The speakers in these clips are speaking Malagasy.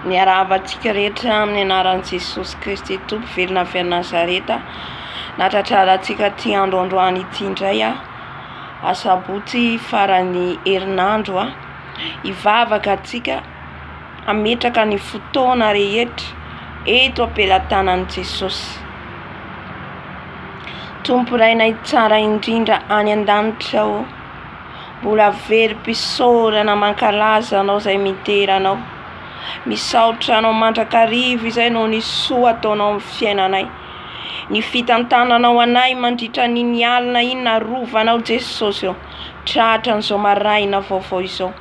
Miarahaba antsika rehetra amin'ny anaran'i Jesosy Kristy Tompo velona avy any Nazareta. Natratrara antsika ity andro androany ity indray aho. Asabotsy faran'ny herinandro aho. Hivavaka antsika hametraka ny fotoana rehetra eto am-pelatanan'i Jesosy. Tompo Rainay tsara indrindra any an-danitra o. Mbola very mpisaorana mankalaza anao izay midera anao. Misaotra anao mandrakariva izay noho ny soa ataonao amin'ny fiainanay. Ny fitantananao anay mandritra an'iny alina iny narovanao Jesosy ô. Tratra an'izao maraina vaovao izao.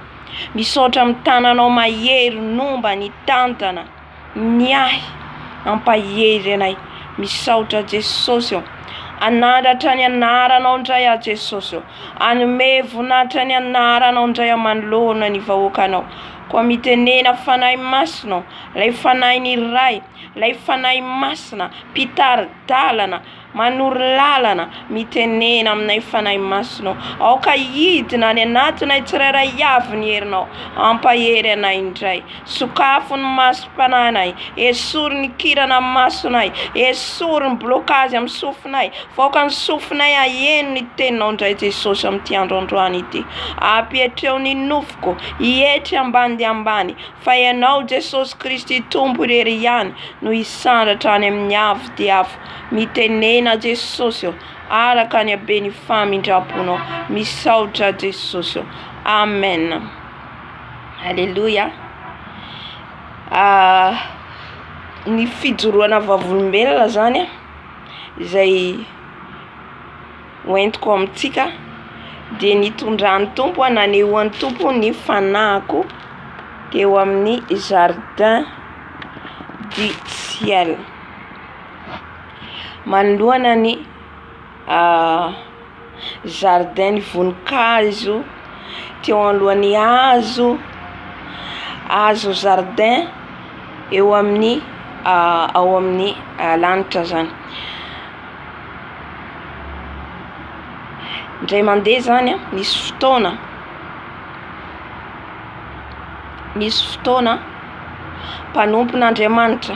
Misaotra amin'ny tananao mahery nomba nitantana. Ny ahy ampahery anay. Misaotra Jesosy ô. Anandratra ny anaranao indray aho Jesosy ô. Anome voninahitra ny anaranao indray aho manoloana ny vahoakanao. Koa mitenena Fanahy Masina ô, ilay Fanahin'ny Ray, ilay Fanahy Masina, mpitari-dalana. Manoro lalana, mitenena aminay Fanahy Masinao. Aoka hidina any anatinay tsirairay avy ny herinao. Hampahery anay indray. Sokafo ny masom-panahinay. Esory ny kirana masonay. Esory ny blokazy amin'ny sofinay. Faoka ny sofinay haheno ny Teninao indray Jesosy amin'ity andro androany ity. Ampietreo ny nofoko hietry ambany dia ambany fa Ianao Jesosy Kristy Tompo irery ihany no hisandratra any amin'ny avo dia avo Mitenena Jesosy ô, araka ny haben'ny famindramponao. Misaotra Jesosy ô. Amen. Alléluia. Ah, ny fijoroana vavolombelona zany a, izay hoentiko amintsika dia nitondran'ny Tompo aho, nanehoan'ny Tompo ny fanahiko teo amin'ny jardin du ciel. Manoloana ny zaridain'ny voninkazo teo anoloan'ny hazo, hazo zaridain eo amin'ny ao amin'ny lanitra zany, ndray mande zany a misy fotoana misy fotoana mpanompona Andriamanitra.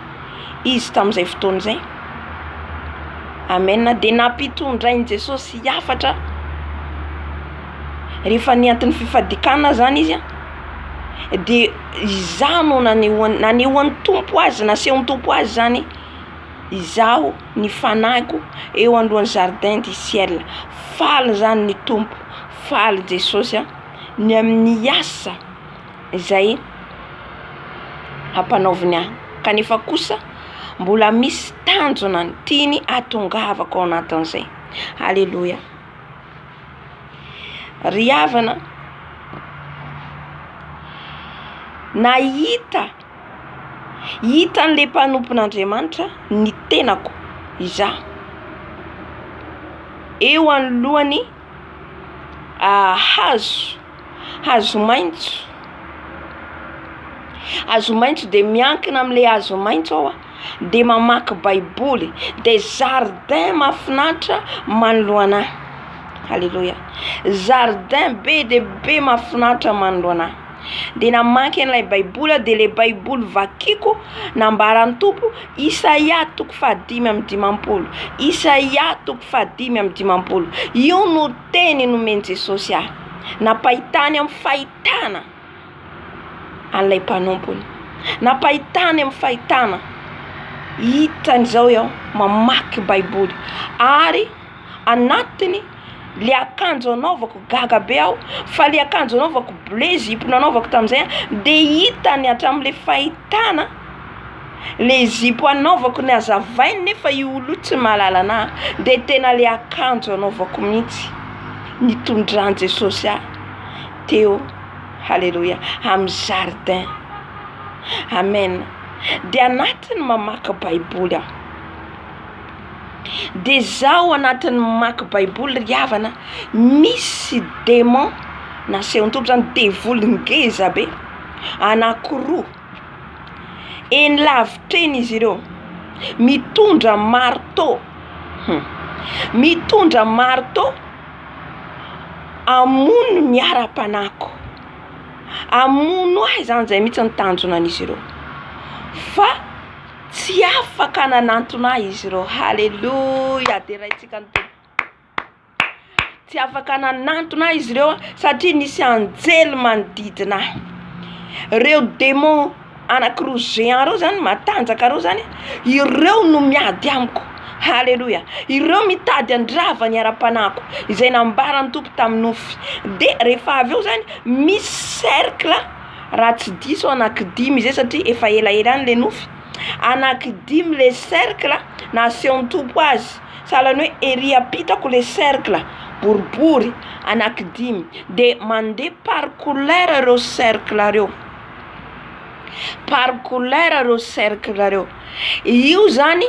izy tamin'izay fotoana izay. Amen, dia nampitondrain'i Jesosy hafatra rehefa nianto'ny fifadikanana zany izy a dia izaho no nanehoany nanehoan'ny Tompo azy nasehon'ny Tompo azy zany izaho ny fanahiko eo anoloan'ny jardin du ciel, faly zany ny Tompo, faly Jesosy a ny amin'ny asa. izay ampanaoviny ahy kanefa kosa mbola misy tanjona tiany hatongavako ao anatin'izay. Aleloia! Ry havana, nahita hitan'ilay mpanompon'Andriamanitra ny tenako izaho eo anoloany hahazo. Hazo maitso, hazo maitso de miankina amle hazo maitso aho a de mamaky baiboly de zaridaina mafinaritra manoloana ahy, aleloia, zaridaina be de be mafinaritra manoloana ahy, de namaky anle baiboly aho de le baiboly vakiko nambaran'ny tompo isaia toko faha dimy amby dimampolo, isaia toko faha dimy amby dimampolo io no. Teny nomen'i Jesosy ahy. Nampahitany amin'ny fahitana an'ilay mpanompony. Nampahitany amin'ny fahitana. Hitany izao aho mamaky Baiboly. Ary anatiny, ilay akanjo anaovako, gaga be aho, fa ilay akanjo anaovako, bleu, zipo nanaovako tamin'izay, dia hitany hatramin'ilay fahitana. Le zipo anaovako ny azavainy nefa io olona io tsy mahalala anah de tena le akanjo anaovako mihitsy nitondran'i Jesosy ahy teo haleloia amin'ny jardin amen de anatiny mamaky baiboly aho de zaho anatiny mamaky baiboly ry havana misy demon nasehon-tolo zany devoly ngeza be anakiroa Eny lavitra eny izy ireo. Mitondra marteau. Mitondra marteau hamono ny ara-panahiko. Hamono ahy izany, izay mihitsy no tanjona an'izy ireo. Fa tsy afaka nanantona ahy izy ireo. Haleloia! Deraintsika ny Tompo. Tsy afaka nanantona ahy izy ireo satria nisy anjely manodidina ahy. Ireo demon anakiroa géant reo zany matanjaka reo zany ireo no miady amiko haleloia ireo mitady handrava ny ara-panahiko izay nambaran'ny Tompo tamin'ny nofy de rehefa avy eo zany misy cercle raha tsy diso aho anaky dimy zay satria efa elaela any le nofy anaky dimy le cercle nasehon'ny Tompo azy. Sahalan'ny hoe ery ampitako le cercle boribory anaky dimy de mande par couleur reo cercle reo, par couleur reo cercle reo, io zany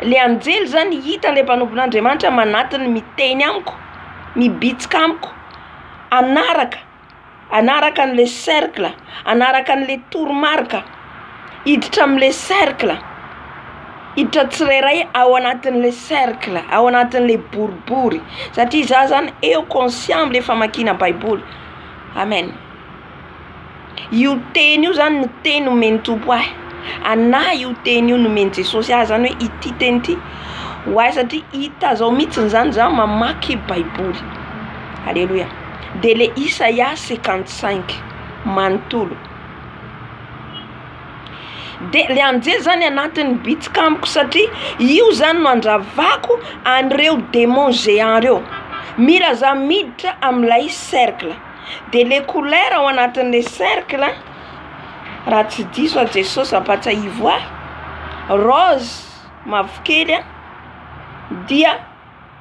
le anjely zany hita le mpanompon'Andriamanitra manatona miteny amiko mibitsika amiko hanaraka. hanaraka an'le cercle, hanaraka an'le toromarika, hiditra amin'le cercle, hiditra tsirairay ao anatin'le cercle, ao anatin'le boribory, satria za zany eo conscient amle famakiana baiboly, amen, io teny io zany no teny omen'ny Tompo ahy, ana io teny io nomen'i Jesosy ahy zany oe ity teny ity ho ahy satria hita zao mitsiny zany za mamaky baiboly, aleloia. dia le Isaia cinquante cinq manontolo de le anjely zany anatin'ny bitsika amiko satria io zany no andravako an'ireo demon geant reo mila za miditra amin'ilay cercle de le couleur ao anatin'le cercle raha tsy diso aho Jesosy ampatsiahivo ahy rose mavokely dia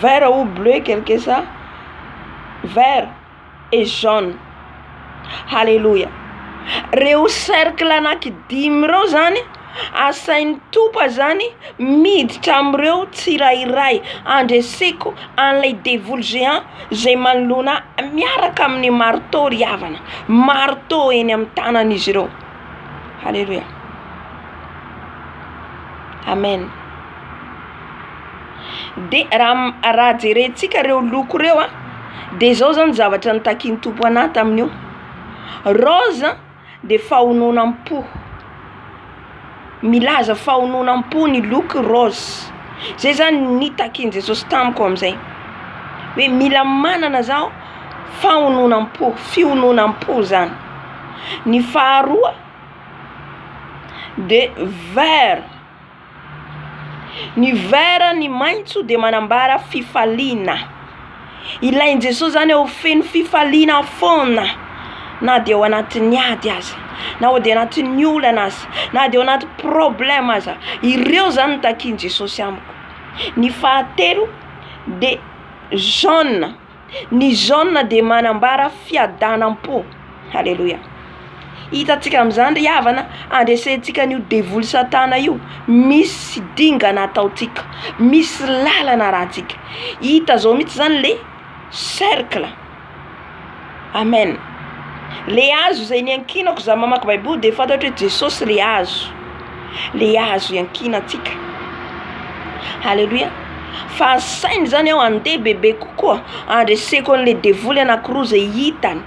Vert ou bleu quelque ça vert et jaune haleloia reo cercle anaky dimy reo zany asainy tompa zany miditra amreo tsirairay andreseko anle devoly géant zay manoloana ahy miaraka aminy marteau ry havana marteau eny amy tanany izy reo. Haleloia. Amen. De raha raha jerentsika reo loko reo a de zao zany zavatra nitakian'ny Tompo anah tamin'io, rose de fahononam-po. Milaza fahononam-po ny loko rose, zay zany nitakian'i Jesosy tamiko amin'izay, hoe mila manana zaho fahononam-po, fihononam-po zany, ny faharoa de vert, ny vert ny maintso de manambara fifaliana. Ilain'i Jesosy izany aho ho feno fifaliana foana, na dia ao anatin'ny ady aza, na dia ao anatin'ny olana aza, na dia ao anaty problème aza. Ireo izany no takian'i Jesosy amiko. Ny fahatelo dia jeune, ny jeune dia manambara fiadanam-po. Aleloia. Hitantsika amin'izany ry havana, handresentsika an'io devoly satana io, misy dingana ataontsika, misy lalana arahantsika. Hita zao mihitsy zany le cercle. Amen. Le hazo izay niankinako za mamaky baiboly de fantatro hoe Jesosy le hazo. Le hazo iankinantsika. Aleloia. Fa asainy zany aho handeha bebe kokoa, handreseko an'le devoly anakiroa zay hitany.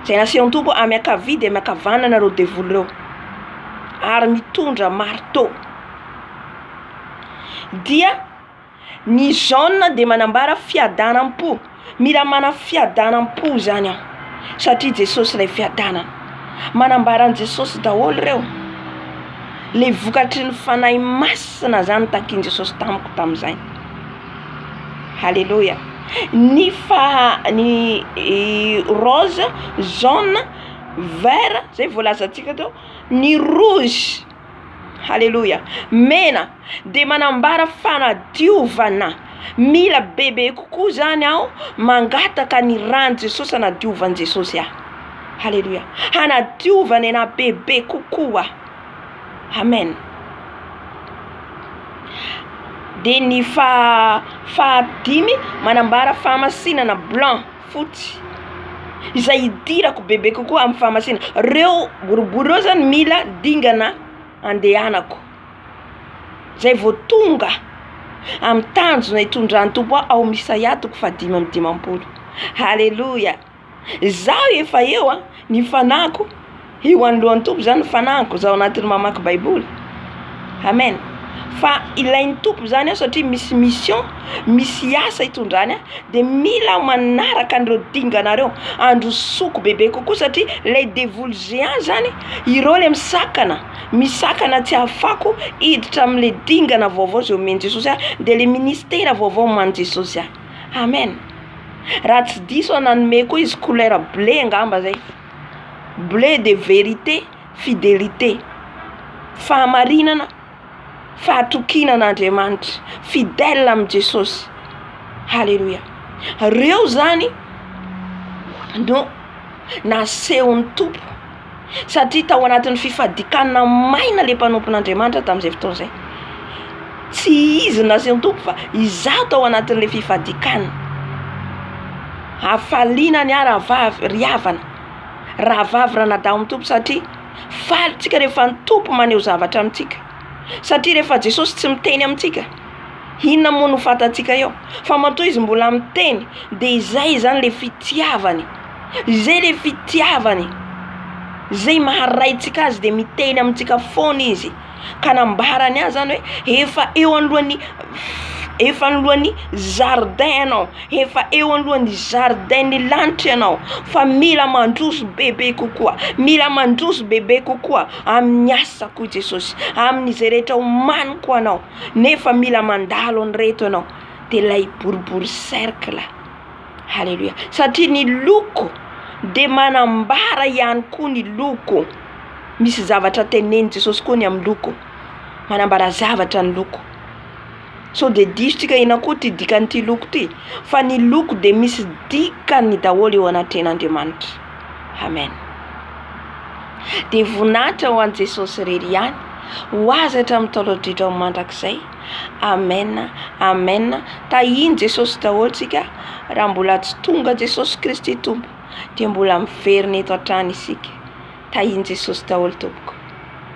Izay nasehon'ny Tompo hoe miankavia dia miankavanana ireo devoly ireo ary mitondra marteau. Dia ny jaune dia manambara fiadanam-po, mila manana fiadanam-po izany aho satria Jesosy ilay fiadanana. Manambara an'i Jesosy daholo ireo, ilay vokatry ny Fanahy Masina izany takin'i Jesosy tamiko tamin'izay. Haleloia ny faha ny rose, jaune, vert zay voalazantsika teo ny rouge haleloia mena de manambara fanadiovana mila bebe kokoa zany aho mangataka ny ran'i Jesosy hanadiovan'i Jesosy ahy haleloia hanadiovany anahy bebe kokoa. Amen. Dia ny faha- fahadimy manambara fahamasinana blanc, fotsy, izay idirako bebe kokoa amin'ny fahamasina, reo boribory reo zany mila dingana andehanako, zay vao tonga amin'ny tanjona itondran'ny Tompo ahy ao Misaiatoko fahadimy amby dimampolo, haleloia. Izaho efa eo a, ny fanahiko eo anoloan'ny Tompo, izany ny fanahiko, izaho anatin'ny mamaky baiboly, amen, fa ilain'ny Tompo izany aho satria misy mission, misy asa hitondrany ahy, de mila aho manaraka an'ireo dingana ireo, handrosoako bebe kokoa satria ilay devoly géant zany, ireo le misakana, misakana tsy ahafahako hiditra amin'ilay dingana vaovao izay omen'i Jesosy ahy, de le ministera vaovao omanin'i Jesosy ahy. Amen! Raha tsy diso aho nanome koa izy couleur bleu angamba zay, bleu de vérité, fidélité, fahamarinana, fahatokiana an'Andriamanitra, fidèle amin'i Jesosy. Haleloia! Reo zany no nasehon'ny Tompo. Satria tao anatin'ny fifadikanana maina ilay mpanompon'Andriamanitra tamin'izay fotoana izay. Tsy izy naseho ny Tompo fa izaho tao anatin'ilay fifadikanana. Hafaliana ny ahy rahavavy ry havana, rahavavy ranadahy ao amin'ny Tompo satria faly tsika rehefa ny Tompo maneho zavatra amintsika. Satria rehefa Jesosy tsy miteny amintsika. Inona moa no fantatsika eo? Fa matoa izy mbola miteny dia izay izany ilay fitiavany, izay ilay fitiavany, izay maharaintsika azy dia miteny amintsika foana izy ka nambarany ahy zany hoe efa eo anoloan'ny efa anoloan'ny zaridaina ianao, efa eo anoloan'ny zaridain'ny lanitra ianao fa mila mandroso bebe kokoa, mila mandroso bebe kokoa amin'ny asako i Jesosy, amin'izay rehetra omaniko anao. nefa mila mandalo an'ireto ianao dia ilay boribory cercle haleloia satria ny loko dia manambara ihany koa ny loko misy zavatra tenenin'i Jesosy koa ny amin'ny loko manambara zavatra ny loko sao dia disotsika ianao koa ity dikan'ity loko ity fa ny loko dia misy dikany daholo eo anatrehan'Andriamanitra Amen. Dia voninahitra ho an'i Jesosy irery ihany, ho Azy hatramin'ny taolan-drehetra ho mandrakizay. Amen, amen. Tahian'i Jesosy daholo isika, raha mbola tsy tonga Jesosy Kristy Tompo, dia mbola miverina eto hatrany isika. Tahian'i Jesosy daholo tompoko.